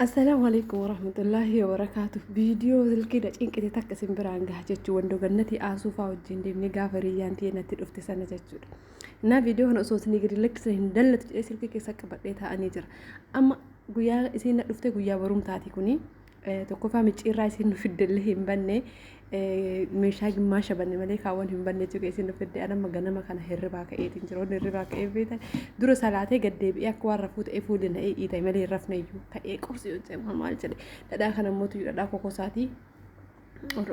Assalaamu alaikum warahmatullaahi wabarakaatu. Viidiyoo silkii na cinqite takka isin biraan gaha jechuun wandoo gannatii aasuufaa wajjin deemnee gaafa riyyaan ta'e natti dhufte sana jechuudha. Naa viidiyoo kana osoo isin gadi lakkisne hin dallatu jedhee silkii keessa qabadhee taa'anii jira. Amma guyyaa isiin na dhufte guyyaa barumtaati kuni. Tokkoffaa micciirraa isiin nu fiddellee hin banne. meeshaa gimmaasha banne malee kaawwan hin banne jechuu keessi nu fidde anamma ganama kana hirribaa ka'eetiin jira wanni hirribaa ka'ee beektan dura salaatee gad deebi'ee akka waan rafuu ta'ee fuulli na ee'iita malee hin rafne iyyuu ka'ee qorsi yoo ta'e maal maal jedhe dhadhaa kana immoo tuyyu dhadhaa kokosaatii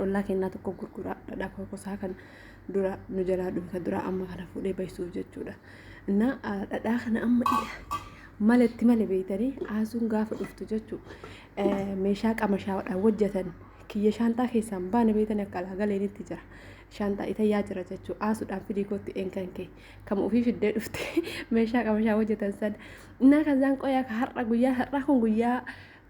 ollaa kennaa tokko gurguraa dhadhaa kokosaa kana dura nu jalaa dhufe kan dura amma kana fuudhee baysuuf jechuudha innaa dhadhaa kana amma maletti male beeytanii haasuun gaafa dhuftu jechuu meeshaa qamashaadhaan hojjetan kiyya shaanxaa keessaan baane beektanii akka alaa galeenitti jira. Shaanxaa itayyaa jira jechuu aasuudhaan fidii kootti eenkan kee kama ofii fiddee dhufte meeshaa qabashaa hojjetan sana. Innaa kanzaan qoyaa ka har'a guyyaa har'aa kun guyyaa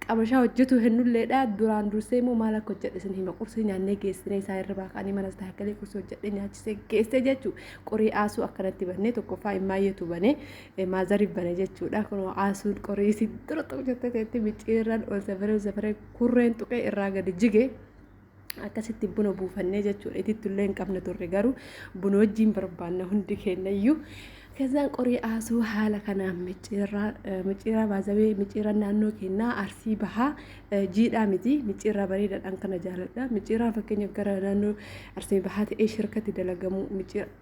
qabashaa hojjetu hennulleedha duraan dursee immoo maal akka hojjedhe isin hima qursii nyaannee geessinee isaa irra baaqanii manas taakkalee qursii hojjedhe nyaachisee geessee jechuu qorii aasuu akkanatti bannee tokkoffaa immaayeetu banee maazariif bane jechuudha kun aasuun qorii isin dura tokko jettee teetti micciirran ol safaree ol safaree kurreen tuqee irraa gadi jige akkasitti buna buufannee jechuudha itittu illee hin qabne turre garuu buna wajjiin barbaanna hundi keenya iyyuu Kazaan qorii aasuu haala kanaan micciirraa eh, micciirraa baazabee micciirraa naannoo keenyaa arsii bahaa eh, jiidhaa miti micciirraa bareedaadhaan kana jaaladha micciirraa fakkeenyaaf gara naannoo arsii bahaa ta'ee shirkatti dalagamu micciirraa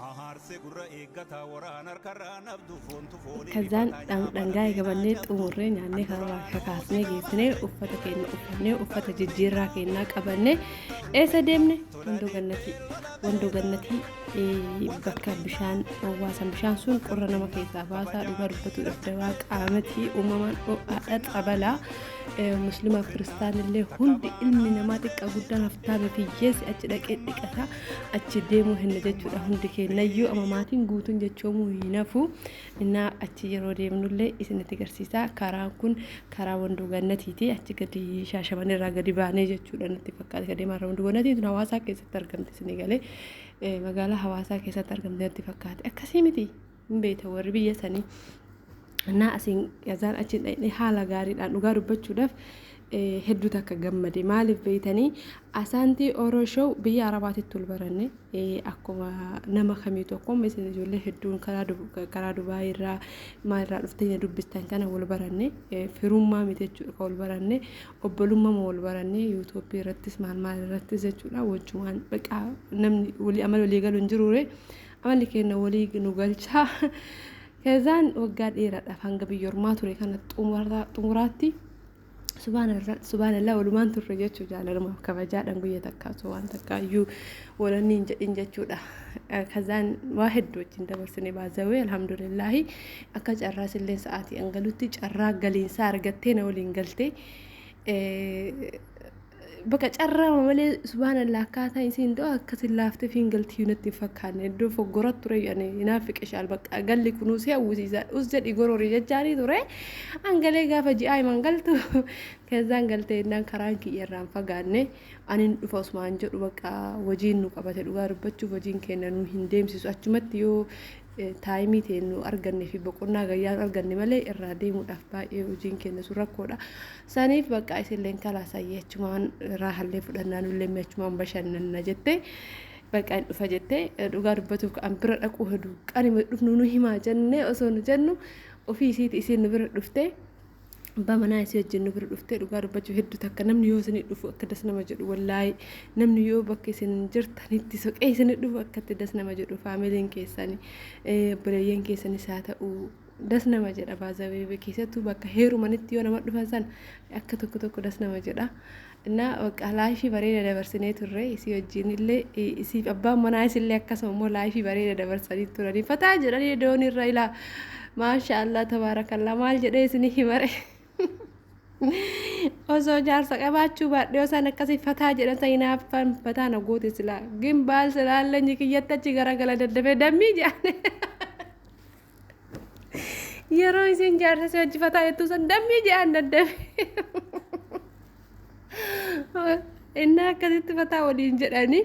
Ahaarse gurra eeggata waraan harkarraa nabdu foontu foonii Kazaan rifataan dhan- nyaapha dhangaa lafee eegabannee naan cabdu. xumurree nyaannee kanarraa kakaasnee geessinee uffata keenya uffannee uffata jijjiirraa keenyaa qabannee eessa deemne wandoo gannatii wandoo gannatii eh, bakka bishaan owwaasan bishaan sun qorra nama keessaa baasaa dhugaa dubbachuudhaaf dawaa qaamatii uumamaan ho'aadha xabalaa muslimaa fi kiristaanillee hundi ilmi namaa xiqqaa guddaan haftaame fi hiyyeessi achi dhaqee dhiqata achi deemuu hinna jechuudha hundi keenyayyuu amma maatiin guutuun jechoomuu hin hafu innaa achi yeroo deemnullee isinitti garsiisaa karaan kun karaa wandoo gannatiiti achi gadi shaashaman irraa gadi baanee jechuudha natti fakkaate ka deemaa irraa wandoo gannatii tun hawaasaa keessatti argamte isinii galee magaalaa hawaasaa keessatti argamte natti fakkaate akkasii miti. hin beektan warri biyya sanii naa asiin azaan achiin dhaqnee haala gaariidhaan dhugaa dubbachuudhaaf hedduu takka gammade maaliif beeytanii asaantii oroo show biyya arabaatitti ol baranne akkuma nama kamiitu akkuma isin ijoollee hedduun karaa dubaa irraa maal irraa dhuftanya dubbistan kana wal baranne firummaa miti jechuudha kan wal baranne obbolummaa wal baranne yuutuubii irrattis maal maal irrattis jechuudha wajjumaan baqaa namni walii amala walii galu hin jiruure Amalli keenya walii nu galchaa. Kezaan waggaa dheeraadhaaf hanga biyya ormaa ture kana xumuraa- xumuraatti subhaanallah subhaanallah walumaan turre jechuu jaalalamaaf kabajaadhaan guyya takkaa osoo waan takkaa iyyuu walanni hin jedhin jechuudha. Eh, Kazaan waa hedduu wajjin dabarsine baazawee alhamdulillaahi akka carraa silleen sa'aatii an galutti carraa galiinsaa argattee na waliin galtee. Eh, Bakka carraama malee subhaanallah akkaataa isiin doo akkasin laafteef hin galtiyyuu natti hin fakkaanne iddoo foggora ture ani hinaaffi qishaal bakka galli kunuu si hawwisiisa us jedhi gorori jechaanii ture angalee gaafa ji'aa himan galtu keessaan galtee innaan karaan kiyya irraan fagaanne anin dhufa osmaan jedhu bakka wajiin nu qabate dhugaa dubbachuuf wajiin kenna nu hin deemsisu achumatti yoo taayimii ta'e nu arganne fi boqonnaa gayyaa nu arganne malee irraa deemuudhaaf baay'ee hojiin keenya sun rakkoodha. Saniif bakka isilleen kalaasayyee achumaan raahallee fudhannaa nullee mi'achumaan bashannanna jettee bakka hin dhufa jettee dhugaa dubbatuuf ka'an bira dhaquu hedu qanima dhufnu nu himaa jennee osoo nu jennu ofii isiiti isiin nu bira dhuftee abbaa manaa isii wajjin nu bira dhuftee dhugaa dubbachuu hedduu takka namni yoo isinii dhufu akka das nama jedhu wallaahi namni yoo bakka isin jirtanitti soqee isinii dhufu akkatti das nama jedhu faamiliin keessani obboleeyyan keessanis haa ta'u das nama jedha baazawee keessattuu bakka heerumanitti yoo nama dhufan san akka tokko tokko das nama jedha. Innaa bakka laayifii bareeda dabarsinee turre isii wajjin illee isiif abbaan manaa isillee akkasuma immoo laayifii bareeda dabarsanii turanii fataa jedhanii doonii irra ilaa maasha allah tabaarakallaa maal jedhee isinii himare osoo jaarsa qabaachuu baadhee osaan akkasii fataa jedhan ta'in haaffaan fataa na goote silaa gin baal silaallee nyikiyyatti achi garagala daddafee dammii jedhane. Yeroo isiin jaarsa si wajji fataa jettuu san dammii je'aan daddabe. Innaa akkasitti fataa waliin jedhanii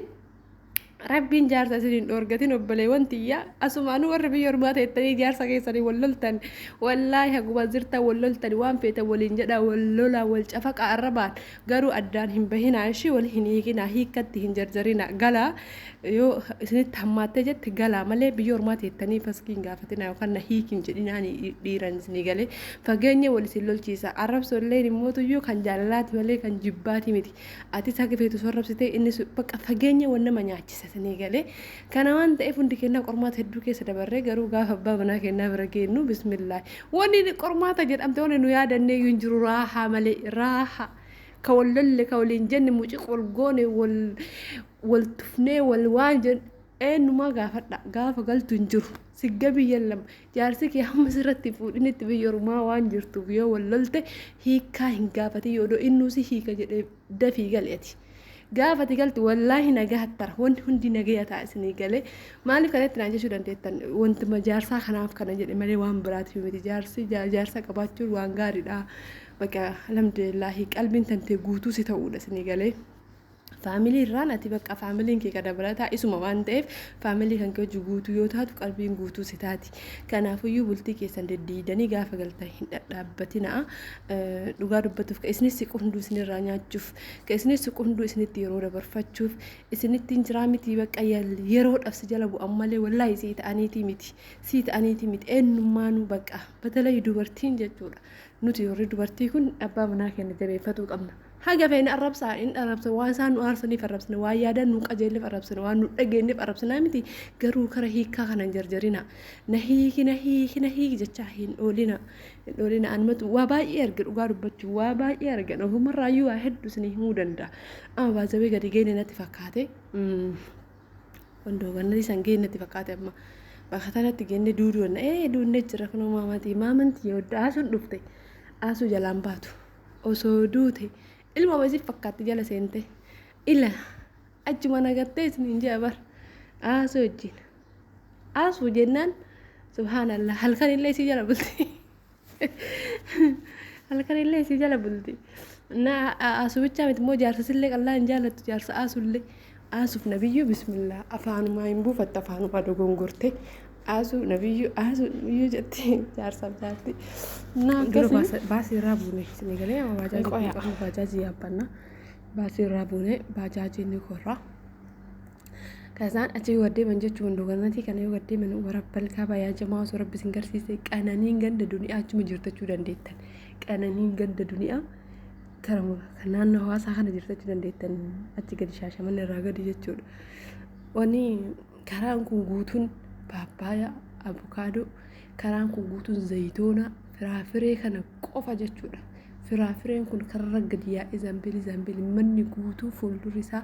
rabbiin jaarsa isin hin dhoorgatin obboleewwan tiyyaa asumaanuu warri biyya ormaa teettanii jaarsa keessanii wal loltan wallaahi haguma jirtan wal loltan waan feetan waliin jedha wal lolaa wal cafaqa arrabaan Garuu addaan hin bahinaa ishii wal hin hiikinaa hiikkatti hin jarjarinaa galaa yoo isinitti hammaattee jette galaa malee biyya ormaa teettanii faskii hin gaafatinaa yookaan na hiiki hin jedhinaa dhiiran isinii galee fageenya wal isin lolchiisa arrabsoo illee immootuyyuu kan jaalalaati malee kan jibbaati miti atis haga feetu sorrabsitee innis bakka fageenya wal nama nyaachisa isinii galee Kana waan ta'eef hundi keennaa qormaata hedduu keessa dabarree garuu gaafa abbaa manaa keennaa bira geennu bismillaahi. Wanni qormaata jedhamte wanni nu yaadanneeyyuu hin jiru raahaa malee raaha. Ka wal lolle ka waliin jenne muciq wal goone wal wal tufnee wal waan jenne eenyumaa gaafadha gaafa galtu hin jiru. Siggabii yallam jaarsi kee hamma sirratti hin fuudhinitti biyya ormaa waan jirtuuf yoo wal lolte hiikkaa hin gaafatin yoo doo innuu si hiika jedhee dafii gali ati gaafa ati galtu wallaahi nagaha tara wanti hundi nagaya ta'a isinii galee maaliif kanatti naan jechuu dandeettan wanti ma- jaarsaa kanaaf kana jedhe malee waan biraatiif miti jaarsi ja- jaarsa qabaachuun waan gaariidha baqa alhamdulillaahi qalbiin tantee guutuu si ta'uudha isinii galee faamilii irraan ati bakka faamiliin kee ka dabalataa isuma waan ta'eef faamilii kan kee hojii guutuu yoo taatu qalbiin guutuu si taati kanaafuyyuu bultii keessan deddeeydanii gaafa galtan hin dhadhaabbatina'a dhugaa dubbatuuf ka isinis siqu hunduu isinirraa nyaachuuf ka isinis siqu hunduu isinitti yeroo dabarfachuuf isinittiin jiraa miti bakka yeroodhaaf si jala bu'an malee wallaahi sii ta'aniitii miti sii ta'aniitii miti eenyummaanuu bakka batalay dubartiin jechuudha nuti warri dubartii kun abbaa manaa keenya jabeeffatuu qabna. Haga feene arrabsaa, hin arrabsina. Waan isaan nu aarsaniif arrabsina. Waan yaadaan nu qajeelleef arrabsina. Waan nu dhageenyeef arrabsinaa miti. Garuu kara hiikkaa kana hin jarjarinaa. Na hiiki, na hiiki, na hiiki jechaa hin oolinaa. Hin oolinaa. Anumatu waa baay'ee arge dhugaa dubbachuu. Waa baay'ee argan. Ofumarraayyuu waa hedduu isinii himuu danda'a. Amma baazawee gadi geene natti fakkaate. Mm. Wandoo gannatii san geene natti fakkaate amma. Bakka tanatti geenne duuduu danda'a. Ee duunnee jira kunoo maamatii. Maamantii yoo daasuun dhufte. Aasuu jalaan baatu. osoo duute ilma wayii siif fakkaatti jala seente ila achuma nagattee isiniin jaa bar aasuu wajjin aasuu jennaan subhaanallah halkan illee isii jala bulti halkan illee isii jala bulti na aasuu bichaa miti immoo jaarsa sillee qallaa hin jaallattu jaarsa aasuu illee Aasuf nabiyyuu bismillah afaanumaa hin buufatte afaanumaa dogongorte aasuu nabiyyuu aasuu nabiyyuu jette jaarsaaf jaarti naa Dura akkasii baasa- baasii irraa buune isinii galee amma baajaajii Qoya. kun qabnu baajaajii yaabbanna baasii irraa buune baajaajii ni korra kasaan achi yoo gaddeeman jechuun hunduu gannatii kana yoo gaddeeman warabbal kaabaa yaa jamaa osoo rabbi isin garsiise qananiin ganda duniyaa achuma jirtachuu dandeettan qananiin ganda duniyaa Karamura kan naannoo hawaasaa kana jirtu jechuu dandeettan achi gadi shaashaman irraa gadi jechuudha. Wanni karaan kun guutuun paappaayaa, abukaadoo, karaan kun guutuun zayitoonaa, firaafiree kana qofa jechuudha. Firaafireen kun kararra gadi yaa'ee zaambilii zaambilii manni guutuu fuuldurri isaa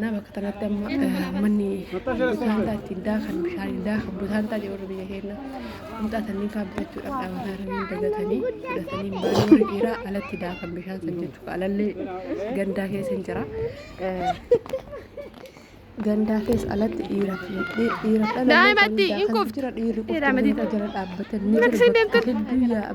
Naa bakka kanatti amma manni butaantaa ittiin daakan bishaaniin daakan butaantaa jedhu warri biyya keenya qunxaa sanniin fa'aa bitachuudhaaf dhaabataa irranii dagatanii fudhatanii baala warri dhiiraa alatti daakan bishaan san jechuudha alallee gandaa keessa hin jira. Gandaa keessa alatti dhiira dhiira dhala. Daa'imatti hin kuftu. Dhiirri qofti jala dhaabbatanii. Hedduu yaa'a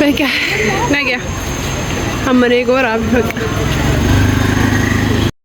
Nagaa. Nagaa. Amma eeguu waraabbi bakka.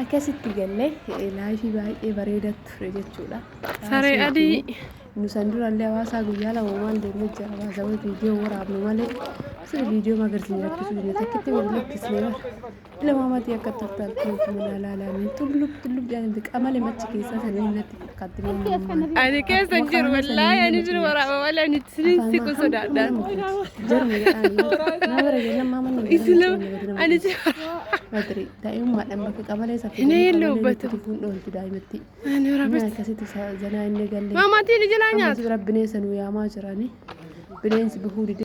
Akkasitti galle laayifii baay'ee bareeda ture jechuudha. Saree adii. Nu san durallee hawaasaa guyyaa lama waan deemnee jira hawaasa wayii viidiyoo waraabnu malee sirri viidiyoo magarsiin rakkisuu hin takkitti wal lakkisnee bara. Ilma maatii akka turtan kunuutu mana laalanii tullub tullub jedhan biqaa malee machi keessaa sanii natti. Ani keessa hin jiru wallaahi ani jiru waraaba malee ani isiniin siqu sodaadhaan. Isina ani jiru Inni hin lubbatu. ani waraaba. Maamaatiin ijilaa nyaatu. Bineensa nu yaamaa jirani. Bineensi bifuu dide.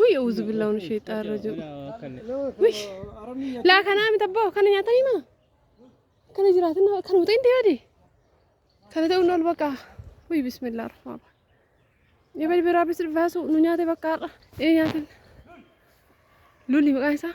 Wii uuzu billaa unu sheexaa irra jiru. Wish. Laa kanaa miti abbaa kana nyaatanii maa? Kana jiraatan nama kana muxeen deebi'e. Kana ta'uun ol baqa. Wii bismillah rahmaan rahim. Yabal biraa bis baasu nu nyaate bakka har'a. Ee nyaatin. Lulli maqaan isaa.